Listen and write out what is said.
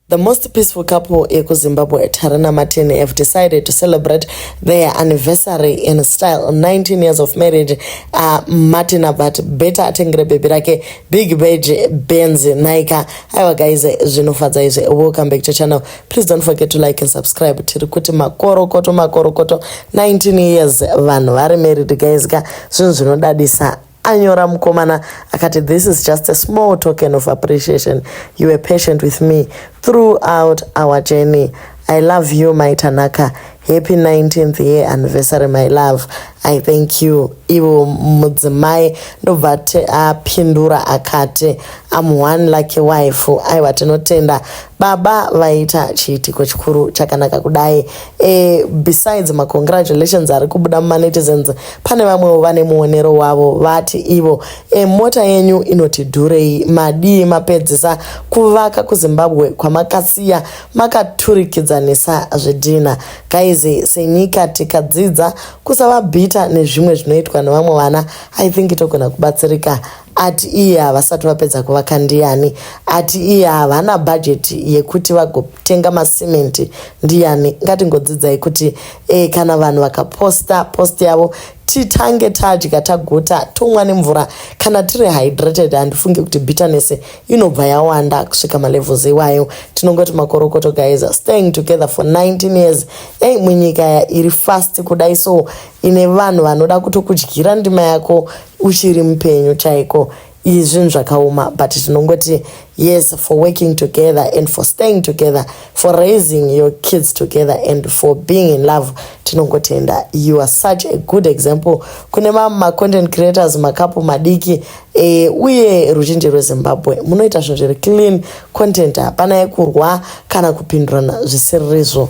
The most peaceful couple yekuZimbabwe Tarina Martin have decided to celebrate their anniversary in style 19 years of marriage uh, Martin but better atengere baby rake big beige Benz Naika aiwa guys zvinofadza izvi welcome back to channel please don't forget to like and subscribe tiri kuti makorokoto makorokoto 19 years vanhu vari married guys ka zvinhu zvinodadisa anyora mukomana akati this is just a small token of appreciation you were patient with me throughout our journey i love you my tanaka happy 19th year anniversary my love i thank you ivo mudzimai ndobva apindura akati am one lucky wife aiwa tinotenda baba vaita chiitiko chikuru chakanaka kudai Eh, besides macongratulations ari kubuda mumanetizens pane vamwewo vane muonero wavo vati ivo e, mota yenyu inoti dhurei madii mapedzisa kuvaka kuzimbabwe kwamakasiya makaturikidzanisa zvidhina gaizi senyika tikadzidza kusava bhita nezvimwe zvinoitwa nevamwe vana i think togona kubatsirika ati iye havasati vapedza kuvaka ndiyani ati iye havana bhajeti yekuti vagotenga masimenti ndiyani ngatingodzidzai kuti e, kana vanhu vakaposta post yavo titange tadya taguta tonwa nemvura kana tiri hydrated handifungi kuti bitterness inobva yawanda kusvika malevels iwayo tinongoti makorokoto guys staying together for 19 years ei munyika iri fast kudai so ine vanhu vanoda kutokudyira ndima yako uchiri mupenyu chaiko izvi zvinhu zvakaoma but tinongoti yes for working together and for staying together for raising your kids together and for being in love tinongotenda you are such a good example kune mamwe macontent creators makapu madiki e, uye ruzhinji rwezimbabwe munoita zvinhu zviri clean content hapana yekurwa kana kupindurana zvisirizvo